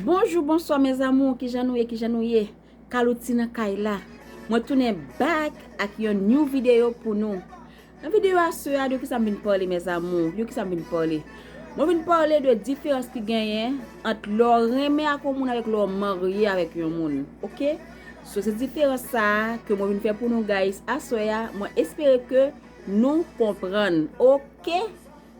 Bonjou bonswa mes amour kijan nou ye kijan nou ye kalou ti nan kay la mwen tounen back ak yon new video pou nou nan video a sè a de kisa m vin pale mes amour de kisa m vin pale mwen vin pale de diferans ki genyen ant lè w renmen ak yon moun avèk lè w marye avèk yon moun ok sou se diferans sa a ke mwen vin fè pou nou guys a sè a mwen espere ke nou konprann ok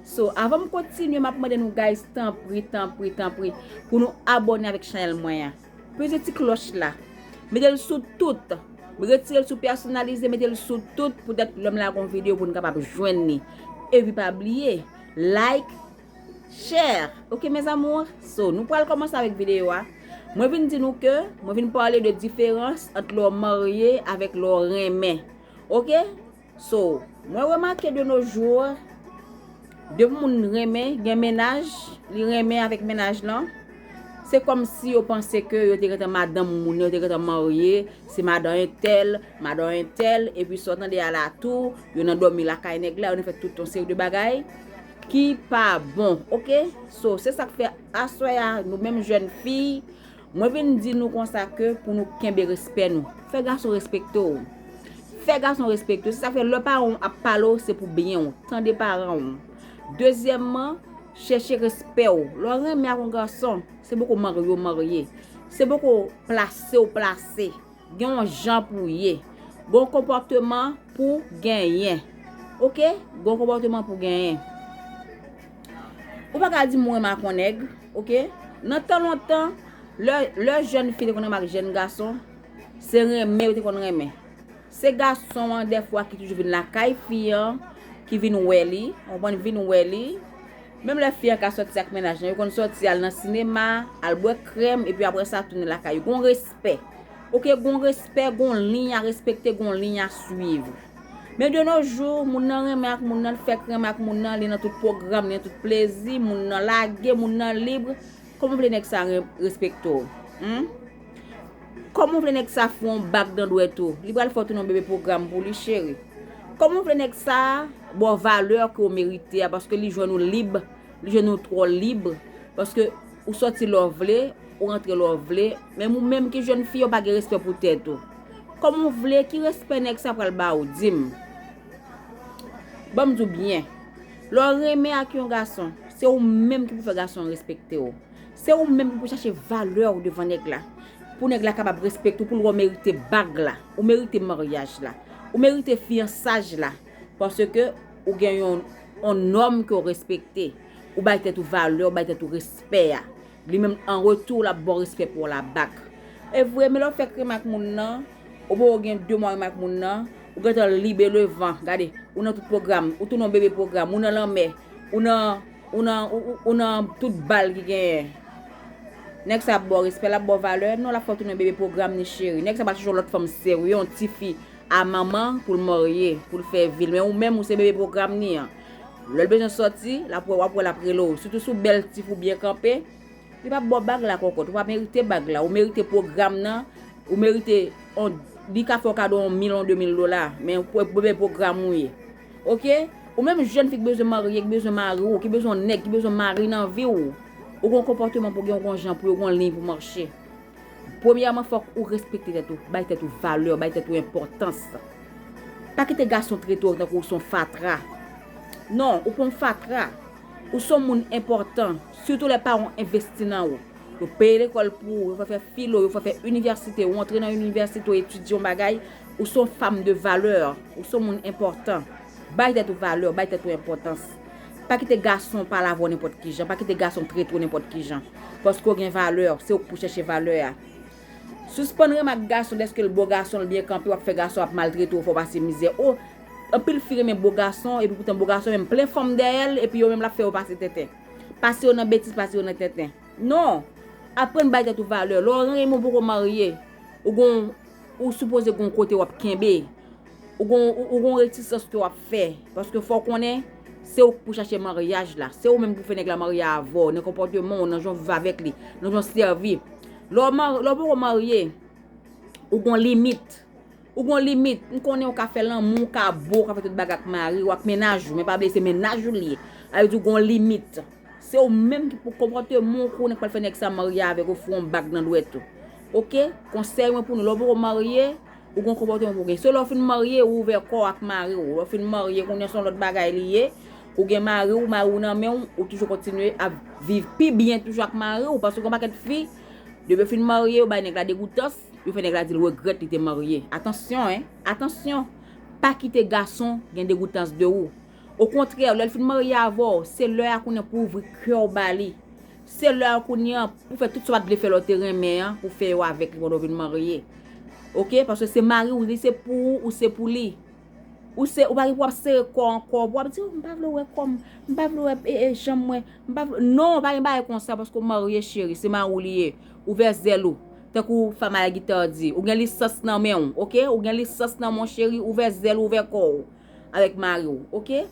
So avan m kontinye map mande nou guys tanpri tanpri tanpri pou nou abòne avèk chanèl mwen an peze ti klòch la metel sou tout retirel sou pèsonalize metel sou tout poutèt lèm lage yon video pou nou kapab jwenn li epi pa bliye like share ok mes amours so nou pral kòmanse avèk video a mwen vin di nou ke mwen vin pale de diferans ant lèw marye avèk lèw renmen ok. So, mwen remake de nos jours, de moun renmen, gen mennaj, li renmen avèk mennaj lan, se kòm si yo panse ke yo te gentan madanm moun nan, yo te gentan marye, se madan entèl, madan entèl, epi sa w tande a la tou, yo nan dòmi lakay nèg la, yo nan fè tout yon seri de bagay, ki pa bon, ok? So, se sa k fè aswè a, nou menm jèn fi, Mwen vin di nou konsa ke pou nou kenbe respè nou. Fè gason respekte w. Fè gason respekte w. Se sa k fè lè paran w ap pale w se pou byen w. Tande paran w. Dezyèmman, chèche respè w. Lè w renmen ak yon gason, se poko marye w marye. Se poko plase w plase. Gen yon jan pou w ye. Gen yon konpòteman pou w genyen. Ok? Gen yon konpòteman pou w genyen. Ou pa ka di mwen makon nèg. Ok? Nan tan lontan, lè jèn fi te konn renmen ak jèn gason, se renmen yo te konn renmen. Se gason an dèfwa ki toujou vin lakay fi an, ki vin wè li. Ou konprann? Vin wè li. Menm lè fi an ka sòti ak mennaj lan, yo konn sòti al nan sinema, al bwè krèm, epi apre sa tounen lakay yo. Gen yon respè. Respè. Ok gon respè gon liy a respekte gon liy a swiv. Men de no jou, moun nan renmen ak moun nan, l fèk renmen ak moun nan, li nan tout pwogram, li nan tout plezi, moun nan lage, moun nan libre, kòman w vle nèg sa respekte w? Hum? Kòman w vle nèg sa fè w yon bak nan dwèt ou? Li pral fè w tounen yon bebe pwogram pou li cheri. Kòman w vle nèg sa ba w valè ke w merite a paske li jwenn ou lib? Je nou twò lib, paske ou sòti lè w vle, ou rantre lè w vle, menm ou menm ki jèn fi yo pa gen respè pou tèt ou. Kòman w vle, ki respè nèg sa pral ba ou, di m? Ban m di w byen, lè w renmen ak yon gason, se ou menm ki pou fè gason an respekte w. Se ou menm ki pou chache valè w devan nèg la, pou nèg la kapab respekte w, pou l wè w merite bag la, ou merite maryaj la, ou merite fiyansaj la, paske. Ou gen yon nòm ke w respekte. Ou bay tèt ou valè, ou bay tèt ou respè a. Li menm, an retou, l ap ba w respè pa w la bak. E vre, men lè w fèk renmen ak moun nan, ou poko gen de mwa renmen ak moun nan, ou gen tan libe le van, gade, ou nan tout pwogram, ou tounen yon bebe pwogram, ou nan lanmè, ou nan, ou nan, ou nan tout bal ki genyen. Nèg sa ap ba w respè, l ap ba w valè? Non, l ap fè w tounen yon bebe pwogram ni cheri. Nèg sa pa chèche yon lòt fanm serye, yon tifi a manman poul marye poul fè vil men ou menm ou se bebe program ni an lèl bezwen sòti lap wè wap wè lap rele w sitou sou bèl tif ou byen kanpe li pap baw bag la kòkòt ou pa merite bag la ou merite program nan ou merite on li ka fèw kado on mil on de mil dola men bebe program ou ye ok ou menm jèn fi k bezwen marye k bezwen mari w ki bezwen on nèg ki bezwen mari nan viw ou gon konpòteman pou gen w gon jan pou yo gon liy pou mache. Premyèman fòk ou respekte tèt ou, bay tèt ou valè, bay tèt ou enpòtans. Pa kite gason trete w tankou ou son fatra. Non, ou pa yon fatra. Ou son moun enpòtan, sitou lè paran w envesti nan ou. Yo peye lekòl pou ou, yo fè w fè filo, yo fè w fè inivèsite, ou antre nan inivèsite ou etidye yon bagay, ou son fanm de valè, ou son moun enpòtan. Bay tèt ou valè, bay tèt ou enpòtans. Pa kite gason palavra w nenpòt kijan, pa kite gason trete w nenpòt kijan. Paske w gen valè, se w k pou chèche valè a. Sispann remak gason dèske l bo gason l byen kanpe w ap fè gason ap maltrete w fè w pase mizè o Anpil fi renmen bo gason epi poutan bo gason menm plen fanm dèyè l epi yo menm l ap fè yo pase tenten Pase yo nan betiz pase yo nan tenten Non! Aprann bay tèt ou valè lè w renmen w poko marye ou gon Ou sipoze gon kote wap kenbe. Ou gon retisans ke wap fè. Paske fòw konnen, se ou ki pou chache maryaj la. Se ou menm ki pou fè nèg la marye avèw. Nan konpòtemanw, nan janw viv avèk li. Nan janw sèvi. Lèw poko marye, ou gon limit. Ou gon limit. M konnen ou ka fè lanmou, ou ka bo, ou ka fè tout bagay ak mariw, ak mennaj ou. Men pa bliye se mennaj ou li ye. Sa vle di ou gon limit. Se ou menm ki pou konpòteman w kou nèg k pral fè nèg sa marye avèk ou fè yon bag nan dwèt ou ok konsèy mwen pou nou lè w poko marye ou gon konpòteman pou gen se lè w fin marye ou ouvè kò w ak mari w lè w fin marye kounye son lòt bagay li ye ou gen mari w mari w nan men w ou toujou kontinye ap viv pi byen toujou ak mari w paske gon pakèt fi depi yo fin marye yo bay nèg la degoutans yo fè nèg la di l regrèt li te marye atansyon hein atansyon pa kite gason gen degoutans de ou Okontrè, lè l fin marye avè w, se lè a kounye an pou w ouvri kè w ba li. Se lè a kounye an pou w fè tout sa w pa t vle fè lè w te renmen an, pou w fè yo avèk li pandan w vin marye. Ok, paske se mari w, li se pou ou, ou se pou li. Ou se, ou pa gen pou w ap sere kò w ankò, pou w ap di, m pa vle w wè kò m, m pa vle w wè e, e, janm mwen, m pa vle w. Non, pa gen bagay konsa paske w marye cheri, se mari w li ye. Ouvè zèl ou. Tankou Famaya Guitar di, ou gen lisans nan men w, ok? Ou gen lisans nan men w cheri, ouvè zèl ou, ouvè kò w. avèk mariw ok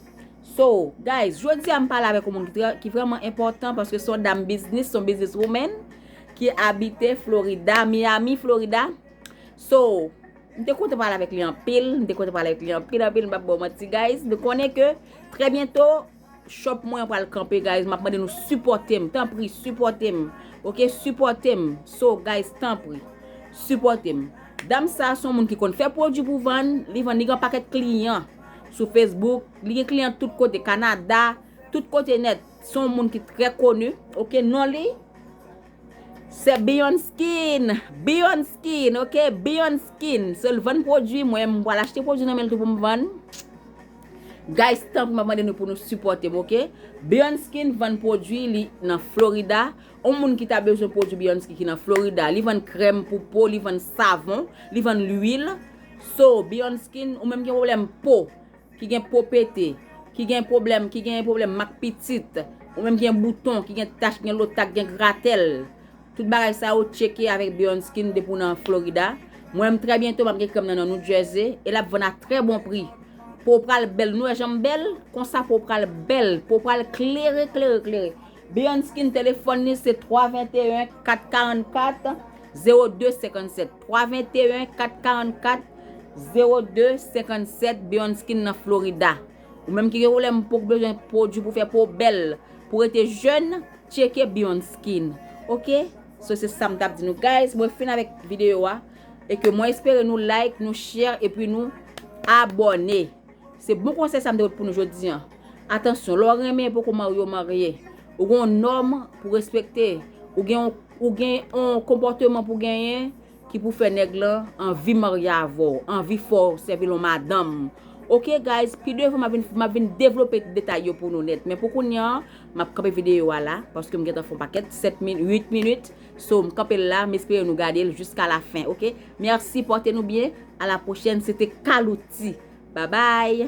so guys jodia m pale avèk yon moun ki vreman enpòtan paske son dam biznis son biznis woman ki abite florida miami florida so m te kontan pale avèk li anpil m te kontan pale avèk li anpil anpil m pap baw manti guys m konnen ke trè byento Shop mwen pral kanpe guys map mande nou sipòtem tanpri sipòtem ok sipòtem so guys tanpri sipòtem dam sa son moun ki konn fè pwodwi pou vann li vann li gen yon pakèt kliyan sou Facebook li gen kliyan tout kote Canada tout kote nèt son moun ki trè koni ok non li Se Beyond Skin! Beyond Skin ok! Beyond Skin! Se l vann pwodui, mwen m pral achte pwodui nan men l tou pou m vann. Guys tanpri map mande nou pou nou sipòte m ok! Beyond Skin vann pwodui li nan Florida. On moun ki ta bezwen pwodui Beyond Skin ki nan Florida, li vann krèm pou po, li vann savon, li vann lwil. So, Beyond Skin, ou menm ki gen pwoblèm po, ki gen po pete, ki gen pwoblèm, ki gen pwoblèm mak pitit, ou menm ki gen bouton, ki gen tach, ki gen lotak, ki gen gratèl, tout bagay sa yo tcheke avèk Beyond Skin depi w nan Florida. Mwen menm trè byento m ap gen krèm nan nan New Jersey e l ap vann a trè bon pri. Po w pral bèl, nou wè jan m bèl? Konsa po w pral bèl, po w pral klere, klere, klere. Beyond Skin telefòn li se 321 444 0257. 321 444 02 57 Beonskin nan Florida Ou menm ki gen pwoblèm pou k bezwen pwodwi pou fè po w bèl pou rete jèn tcheke Beonskin ok So se sam tap di nou guys mwen fin avèk video a e ke mwen espere nou like nou share epi nou abone. Se bon konsèy sa m te pot pou nou jodi an. Atansyon, lè w renmen epi w poko marye ou marye, ou gen yon nòm pou w respekte, ou gen ou gen yon konpòteman pou w genyen ki pou fè nèg lan anvi marye avè w, anvi fè w sèvi l yon madanm. Ok guys, pi devan m ap vin m ap vin devlope detay yo pou nou nèt men pou kounya m ap kanpe videyo a la paske m gentan fè yon pakèt 7 minit, 8 minit. So m kanpel la m espere nou gadel jiska la fen ok merci porte nou byen a la prochèn se te calouty babay.